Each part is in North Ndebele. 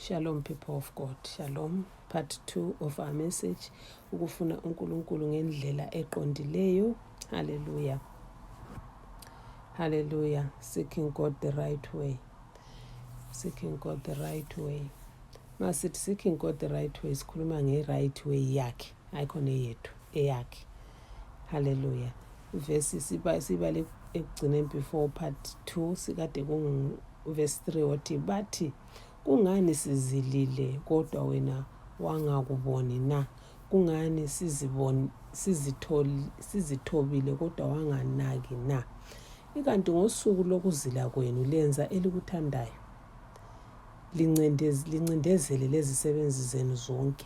Shalom people of God. Shalom. Part 2 of our message. Ukufuna uNkulunkulu ngendlela eqondileyo. Hallelujah. Hallelujah. Seeking God the right way. Seeking God the right way. Masithi seeking God the right way sikhuluma nge right way yakhe. Ayikho neyethu eyakhe. haleluya ivesi sibale ekugcineni before part 2 sikade kunguvesi 3 othi bathi kungani sizilile kodwa wena wangakuboni na kungani siziboni sizitholi sizithobile kodwa wanganaki na ikanti ngosuku lokuzila kwenu lenza elikuthandayo lincindezele lezisebenzi zenu zonke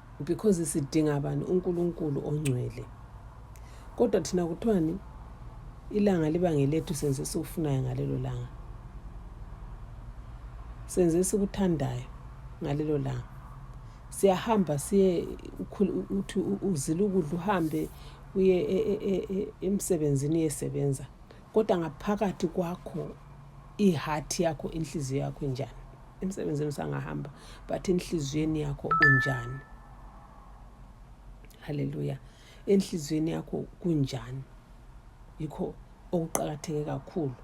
because sidinga bani uNkulunkulu ongcwele kodwa thina kuthiwani ilanga liba ngelethu senze esikufunayo ngalelo langa senze esikuthandayo ngalelo langa siyahamba siye uthi uzila ukudla uhambe uye e, e, e, emsebenzini uyesebenza kodwa ngaphakathi kwakho iheart yakho inhliziyo yakho injani emsebenzini usangahamba but enhliziyweni yakho unjani haleluya enhliziyweni yakho kunjani yikho okuqakatheke kakhulu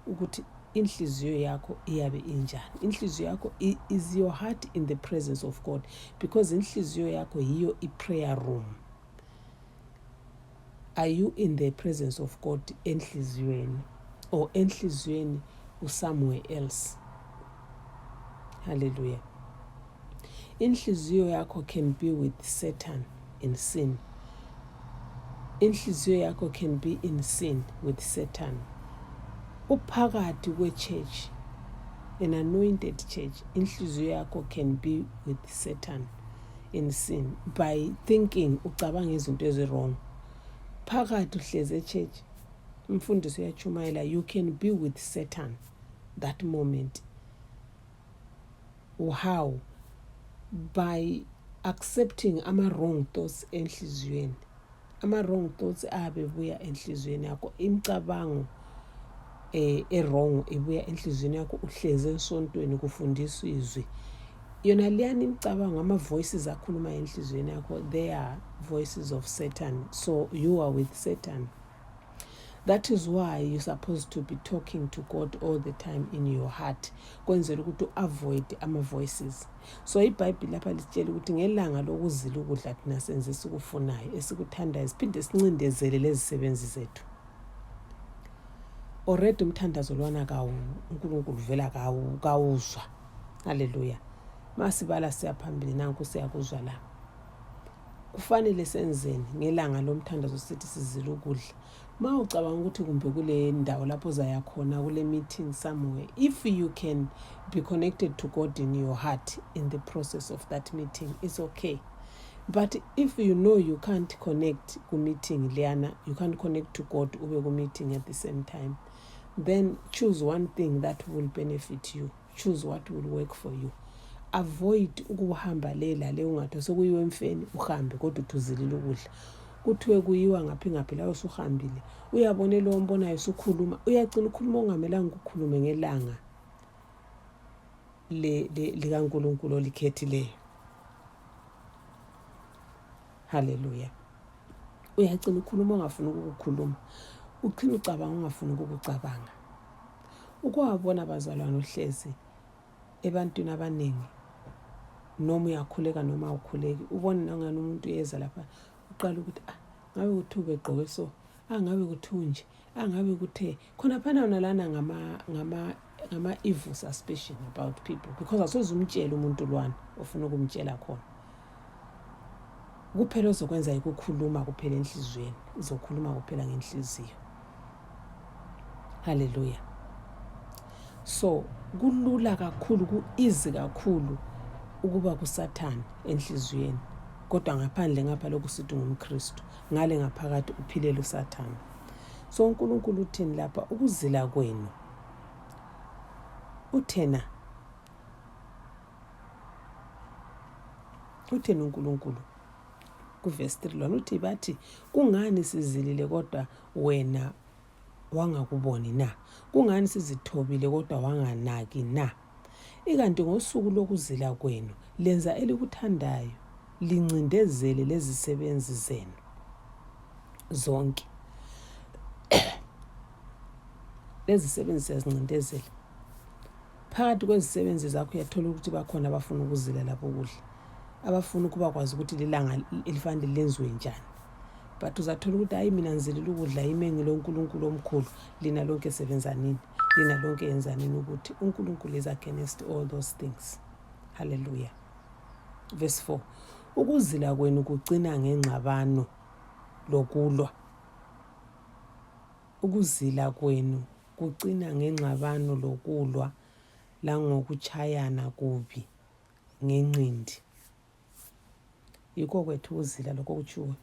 ukuthi inhliziyo yakho iyabe injani inhliziyo yakho is your heart in the presence of god because inhliziyo yakho yiyo i-prayer room are you in the presence of god enhliziyweni or enhliziyweni usomewhere else hallelujah inhliziyo yakho can be with satan in sin inhliziyo yakho can be in sin with satan uphakathi kwechurch an anointed church inhliziyo yakho can be with satan in sin by thinking ucabanga izinto ezi-wrong phakathi uhlezi echurch umfundisi uyatshumayela you can be with satan that moment how by accepting ama-wrong thoughts enhliziyweni ama-wrong thoughts ayabe ebuya enhliziyweni yakho imicabango eh erong ibuya enhliziyweni yakho uhlezi ensontweni kufundiswa izwi yona leyani imicabango ama-voices akhuluma enhliziyweni yakho they are voices of satan so you are with satan that is why you supposed to be talking to god all the time in your heart kwenzela ukuthi u-avoid ama-voices so ibhayibhile lapha lisitshela ukuthi ngelanga lokuzila ukudla thina senze esikufunayo esikuthandayo siphinde sincindezele lezisebenzi zethu already umthandazo lwana kawu unkulunkulu vela kawu kawuzwa halleluya masibala siyaphambili nanku siyakuzwa la Kufanele senzeni ngelanga lomthandazo sithi sizila ukudla? Ma ucabanga ukuthi kumbe kule ndawo lapho uzaya khona kule meeting somewhere, if you can be connected to God in your heart in the process of that meeting, it's okay. But if you know you can't connect ku meeting leyana, you can't connect to God ube ku meeting at the same time, then choose one thing that will benefit you. Choose what will work for you. Avoid ukuhamba le lale ungathi sekuyiwe emfeni uhambe kodwa uthuzilile ukudla. Kuthiwe kuyiwa ngaphi ngaphi layo usuhambile. Uyabona lo ombonayo usukhuluma, uyacina ukhuluma okungamelanga ukukhulume ngelanga le likaNkulunkulu olikhethileyo. Hallelujah. uyacina ukhuluma ongafuni ukukukhuluma uqhina ucabanga ongafuni ukukucabanga ukuwabona bazalwane uhlezi ebantwini abaningi noma uyakhuleka noma awukhuleki ubone nangani umuntu uyeza lapha uqala ukuthi ah ngabe kuthiwa ubegqoke so angabe ah, kuthiwa nje angabe ah, kuthe khonaphana wona lana ngama-evil suspicion about people because asoze umtshele umuntu lwana ofuna ukumtshela khona kuphela ozokwenza yikukhuluma kuphela enhliziyweni uzokhuluma kuphela ngenhliziyo haleluya so kulula kakhulu ku-izi kakhulu ukuba kusathane enhliziyweni kodwa ngaphandle ngapha lokhu sithi ngumkristu ngale ngaphakathi uphilele usathane so unkulunkulu uthini lapha ukuzila kwenu uthena utheni uNkulunkulu kuvesi 3 lona uthi bathi kungani sizilile kodwa wena wangakuboni na kungani sizithobile kodwa wanganaki na ikanti ngosuku lokuzila kwenu lenza elikuthandayo lincindezele lezisebenzi zenu zonke lezisebenzi siyazincindezela Phakathi kwezisebenzi zakho uyathola ukuthi bakhona abafuna ukuzila lapho ukudla, abafuna ukuba kwazi ukuthi lilanga elifanele lenziwe njani. But uzathola ukuthi hayi mina ngizilela ukudla yimi engilo uNkulunkulu omkhulu, lina lonke sebenzanini, lina lonke yenzanini ukuthi uNkulunkulu is against all those things. Hallelujah. Verse 4. Ukuzila kwenu kucina ngengxabano lokulwa. Ukuzila kwenu Kucina ngengxabano lokulwa langokutshayana kubi ngenqindi. Yikho kwethu ukuzila lokho kutshiwo.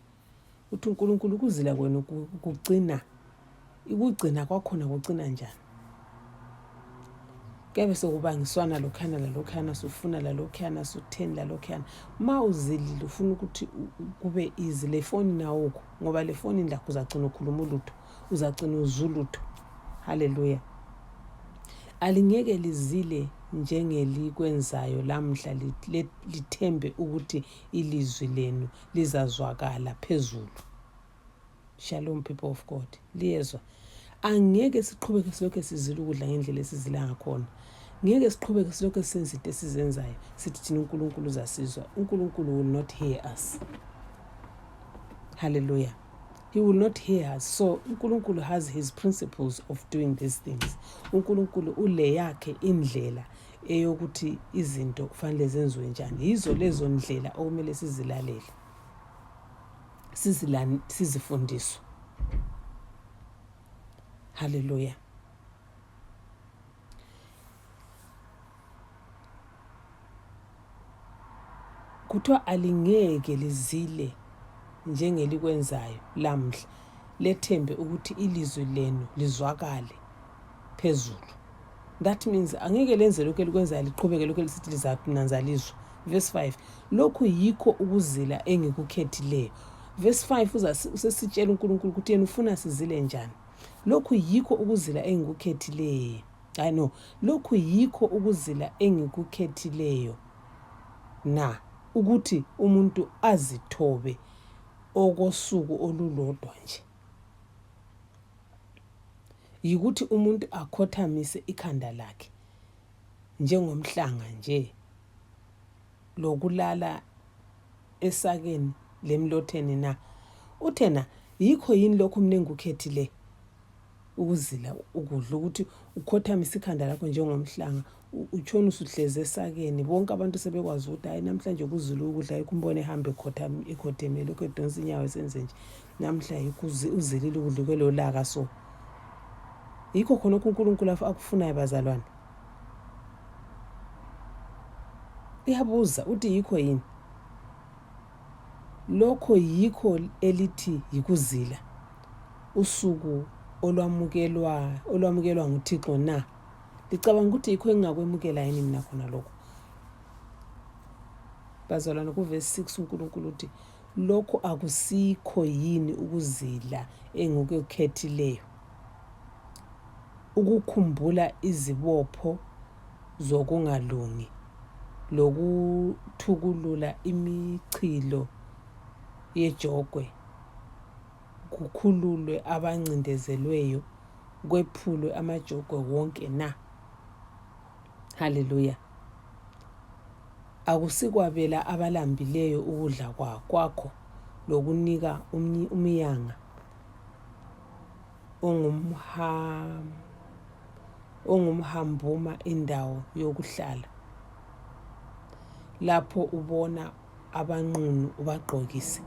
Uthi uNkulunkulu ukuzila kwenu kucina ikugcina kwakhona kucina njani? kuyabe sekubangiswana lokhuyana lalokhuyana sufuna lalokhuyana sutheni lalokhuyana ma uzilile ufuna ukuthi kube izi lefonini awukho ngoba lefonini lakho uzagcina ukhuluma ulutho uzagcina uzulutho haleluya alingeke lizile njengelikwenzayo lamhla lithembe ukuthi ilizwi lenu lizazwakala phezulu shalom people of god liyezwa angeke siqhubeke silokhu sizila ukudla ngendlela esizila ngakhona ngeke siqhubeke silokhu senza into esizenzayo sithi thina unkulunkulu uzasizwa unkulunkulu will not hear us hallelujah he will not hear us so unkulunkulu has his principles of doing these things unkulunkulu ule yakhe indlela eyokuthi izinto kufanele zenziwe njani yizo lezo ndlela okumele sizilalele sizifundiswe haleluya kuthiwa alingeke lizile njengelikwenzayo lamhla lethembe ukuthi ilizwi lenu lizwakale phezulu that means angeke lenze lokhu elikwenzayo liqhubeke lokhu elisithi lizananza lizwa verse 5 lokhu yikho ukuzila engikukhethileyo verse 5 usesitshela unkulunkulu ukuthi yena ufuna sizile njani lokhu yikho ukuzila engikukhethileyo I know lokhu yikho ukuzila engikukhethileyo na ukuthi umuntu azithobe okosuku olulodwa nje yikuthi umuntu akhothamise ikhanda lakhe njengomhlanga nje lokulala esakeni lemlotheni na uthena yikho yini lokhu mina engikukhethileyo ukuzila ukudla ukuthi ukhothamise ikhanda lakho njengomhlanga utshona usuhlezi esakeni bonke abantu sebekwazi ukuthi hayi namhlanje kuzulu ukudla yikho umbona ehambe ekhothemele lokhu edonsa inyawo esenze nje namhla yikho uzilile ukudla kwelolaka so yikho khonokho unkulunkulu akufunayo bazalwane uyabuza uthi yikho yini Lokho yikho elithi yikuzila, usuku olwamukelwa olwamukelwa nguThixo na? Licabanga ukuthi yikho engingakwemukela yini mina khona lokho? Bazalwane, kuvesi 6 uNkulunkulu uthi, lokho akusikho yini ukuzila engikukhethileyo? Ukukhumbula izibopho zokungalungi lokuthukulula imichilo yejogwe kukhululwe abancindezelweyo kwephulwe amajogwe wonke na haleluya akusikwabela abalambileyo ukudla kwakho lokunika umyanga ongumham ongumhambuma indawo yokuhlala lapho ubona abanqunu ubagqokise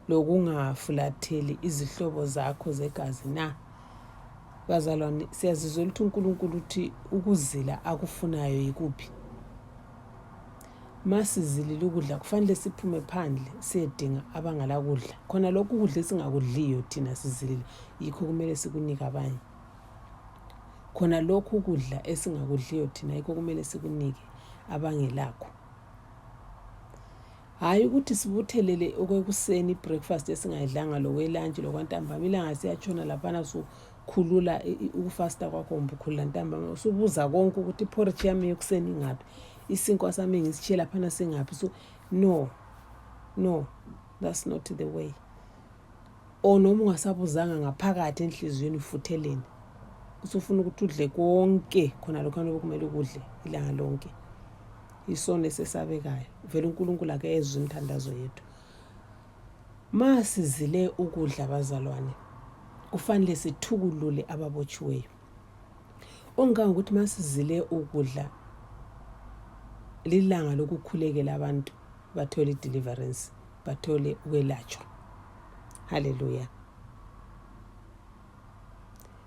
lokungafulatheli izihlobo zakho zegazi na bazalwane siyazizwa ukuthi unkulunkulu uthi ukuzila akufunayo yikuphi ma sizilile ukudla kufanele siphume phandle siyedinga abangalakudla khona lokhu ukudla esingakudliyo thina sizilile yikho kumele sikunike abanye khona lokhu ukudla esingakudliyo thina yikho kumele sikunike abangelakho hhayi ukuthi sibuthelele okwekuseni ibreakfast esingayidlanga lokwelantshi lokwantambama ilanga siyatshona laphana sukhulula ukufasta kwakho kumbe ukhulula ntambama usubuza konke ukuthi iphoritshe yami yokuseni ingaphi isinkwa sami ngisitshiye laphana singaphi so no no that's not the way O noma ungasabuzanga ngaphakathi enhliziyweni ufutheleni usufuna ukuthi udle konke khona lokho anokumele ukudle ilanga lonke isono esesabekayo vele unkulunkulu ake ezwe imithandazo yethu ma sizile ukudla bazalwane kufanele sithukulule ababotshiweyo ongicanga ukuthi ma sizile ukudla lilanga lokukhulekela abantu bathole i-deliverance bathole ukwelatshwa haleluya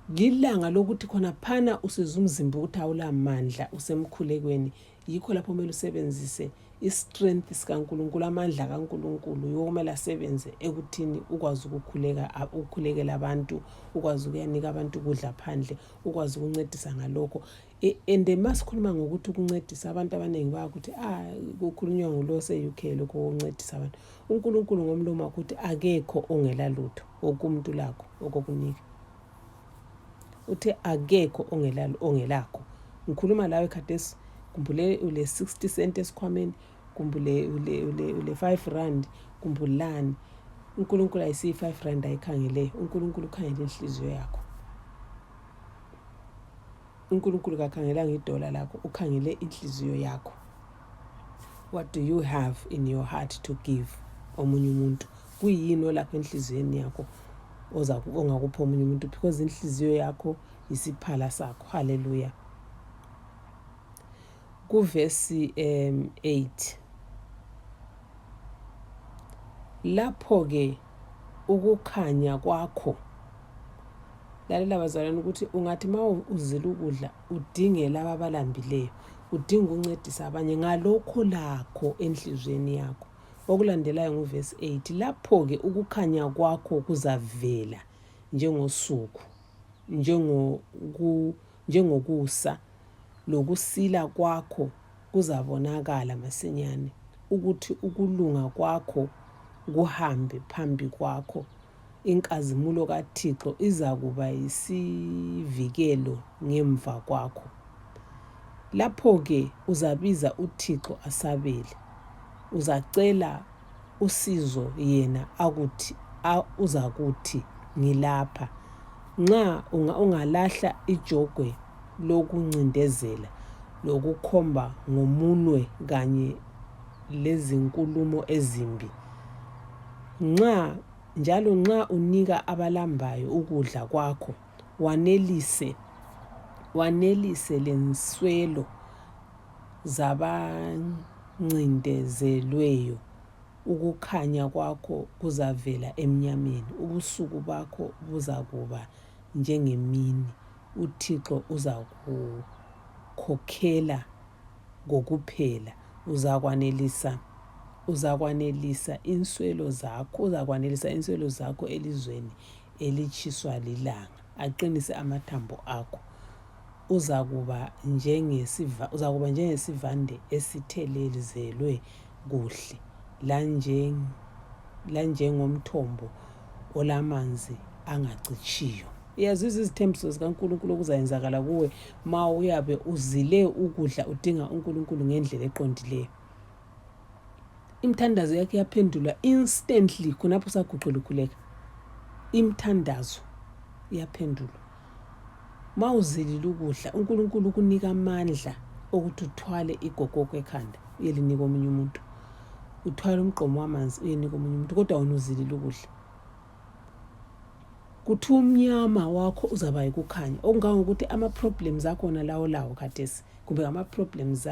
lilanga lokuthi khona phana usiza umzimba ukuthi awulamandla usemkhulekweni yikho lapho kumele usebenzise i-strength sikankulunkulu amandla kankulunkulu yokumele asebenze ekuthini ukwazi ukukhuleka ukukhulekela abantu ukwazi ukuyanika abantu ukudla phandle ukwazi ukuncedisa ngalokho E, and masikhuluma ngokuthi ukuncedisa abantu abaningi bakuthi a ah, kukhulunywa ngulo se-uk lokho kokuncedisa abantu unkulunkulu ngomlomo wakuthi akekho ongela lutho woke umuntu lakho okokunika uthe akekho ongelakho ngikhuluma lawe khathesi kumbule ule-sixty cent esikhwameni kumbule ule-five rand kumbulani unkulunkulu ayisiyi-five rand ayikhangeleyo unkulunkulu ukhangele inhliziyo yakho unkulunkulu kakhangelanga idola lakho ukhangele inhliziyo yakho what do you have in your heart to give omunye umuntu kuyini olapha enhliziyweni yakho ongakupha omunye umuntu because inhliziyo yakho yisiphala sakho halleluya kuvesi um 8 lapho-ke ukukhanya kwakho lalela bazalwane ukuthi ungathi ma uzila ukudla udinge laba abalambileyo udinga ukuncedisa abanye ngalokho lakho enhliziyweni yakho okulandelayo nguvesi 8 lapho-ke ukukhanya kwakho kuzavela njengosuku njengoku njengokusa lokusila kwakho kuzabonakala masinyane ukuthi ukulunga kwakho kuhambe phambi kwakho inkazimulo kaThixo izakuba yisivikelo ngemva kwakho lapho ke uzabiza uThixo asabele uzacela usizo yena akuthi uzakuthi ngilapha nxa ungalahla ijogwe lokuncindezela lokukhomba ngomunwe kanye lezinkulumo ezimbi nxa njalo nxa unika abalambayo ukudla kwakho wanelise wanelise lenswelo zabancindezelweyo, ukukhanya kwakho kuzavela emnyameni, ubusuku bakho buzakuba njengemini, uThixo uzakukhokhela kokuphela, uzakwanelisa, uzakwanelisa inswelo zakho, uzakwanelisa inswelo zakho elizweni elitshiswa lilanga. aqinise amathambo akho uzakuba njengesiva uzakuba njengesivande esithelelizelwe kuhle lanjeng lanjengomthombo olamanzi angacitshiyo yazizwa izithembiso zikaNkulunkulu okuzayenzakala kuwe ma uyabe uzile ukudla udinga uNkulunkulu ngendlela eqondileyo Imithandazo yakhe yaphendulwa instantly khonapho saguqula ukhuleka. Imithandazo yaphendulwa. Ma uzilile ukudla, uNkulunkulu ukunika amandla okuthi uthwale igogoko ekhanda uyelinika omunye umuntu. Uthwale umgqomo wamanzi uyenika omunye umuntu kodwa wena uzilile ukudla. kuthi umnyama wakho uzaba yikukhanya okungangokuthi ama-problems akhona lawo lawo khathesi kumbe ngama-problems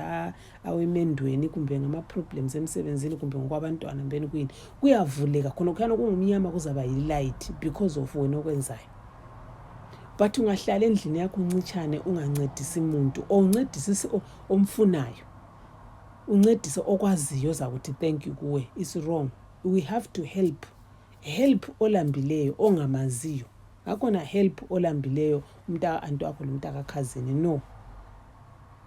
awemendweni kumbe ngama-problems emsebenzini kumbe ngokwabantwana mbeni kuyini kuyavuleka khona khuyana kungumnyama kuzaba yi-light because of wena okwenzayo but ungahlala endlini yakho uncitshane ungancedisi muntu or uncedisisi omfunayo uncedise okwaziyo zakuthi thank you kuwe is wrong we have to help help olambileyo ongamaziyo ngakhona help olambileyo umntaka anti wakho lomntaka khazini no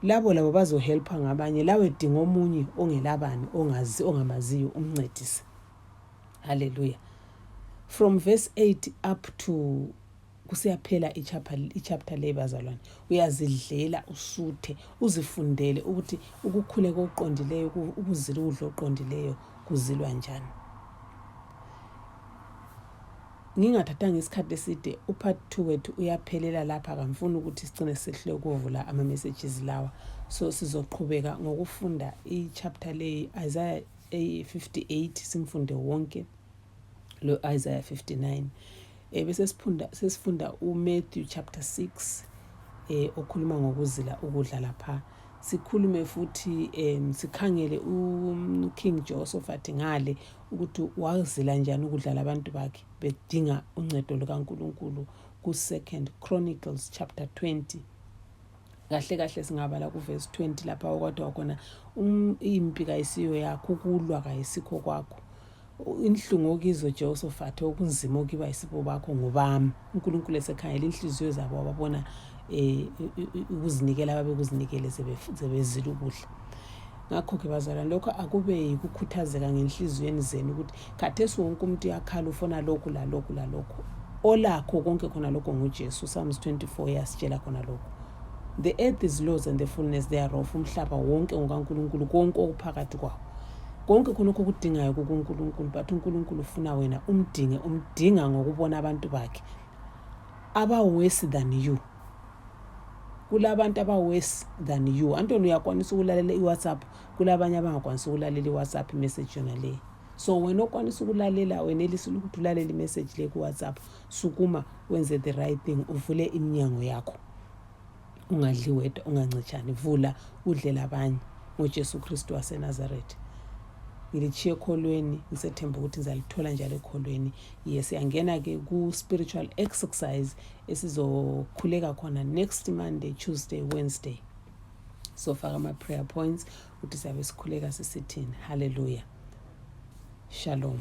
labo labo bazohelpha ngabanye lawe dinga omunye ongelabani ongazi ongamaziyo umncedise haleluya from verse 8 up to kusiyaphela ichapter leyi bazalwane uyazidlela usuthe uzifundele ukuthi ukukhule kokuqondileyo ukuzila ukudla okuqondileyo kuzilwa njani ngingathathanga isikhathi eside upart two wethu uyaphelela lapha kamfuni ukuthi sicine sehlule ukuvula ama-messages lawa so sizoqhubeka ngokufunda ichapter leyi isaya eyi-58 simfunde wonke lo-Isaiah 59 eh, bese sesifunda uMatthew chapter 6 eh okhuluma ngokuzila ukudla lapha sikhulume futhi um sikhangele uKing Jehoshaphat ngale ukuthi wazila njani ukudla labantu bakhe bedinga uncedo lukaNkulunkulu ku-Second Chronicles chapter 20 kahle kahle singabala kuvesi 20 lapha okwadwa khona um, impi kayisiyo yakho ukulwa kayisikho kwakho inhlungu okizo jehosofat okunzima okiba isibo bakho ngobami unkulunkulu esekhangela inhliziyo zabo ababona um ukuzinikela babekuzinikele zebezile ukudla ngakho-ke bazalwane lokho akube yikukhuthazeka ngenhliziyweni zenu ukuthi khathesi wonke umuntu uyakhala ufuna lokhu lalokhu lalokhu olakho konke khona lokho ngujesu psalms 24 yasitshela khona lokho the earth is laws and the fullness thereof umhlaba wonke ngokankulunkulu konke okuphakathi kwawo konke khonokho okudingayo kukunkulunkulu but unkulunkulu ufuna wena umdinge umdinga ngokubona abantu bakhe abaworse than you kulabantu abaworse than you antoni uyakwanisa ukulalela iwhatsapp kulabanye abangakwanisa ukulalela iwhatsapp message yona leyi so wena okwanisa ukulalela wenelisile ukuthi ulalele imessage le kuwhatsapp sukuma wenze the right thing uvule iminyango yakho ungadli wedwa ungancitshani vula udlela abanye ngojesu kristu wasenazaretha ngilitshiye ekholweni ngisethemba ukuthi ngizalithola njalo ekholweni ye siyangena-ke ku-spiritual exercise esizokhuleka khona next monday tuesday wednesday sofaka ama-prayer points ukuthi siyabe sikhuleka sisithini halleluya shalom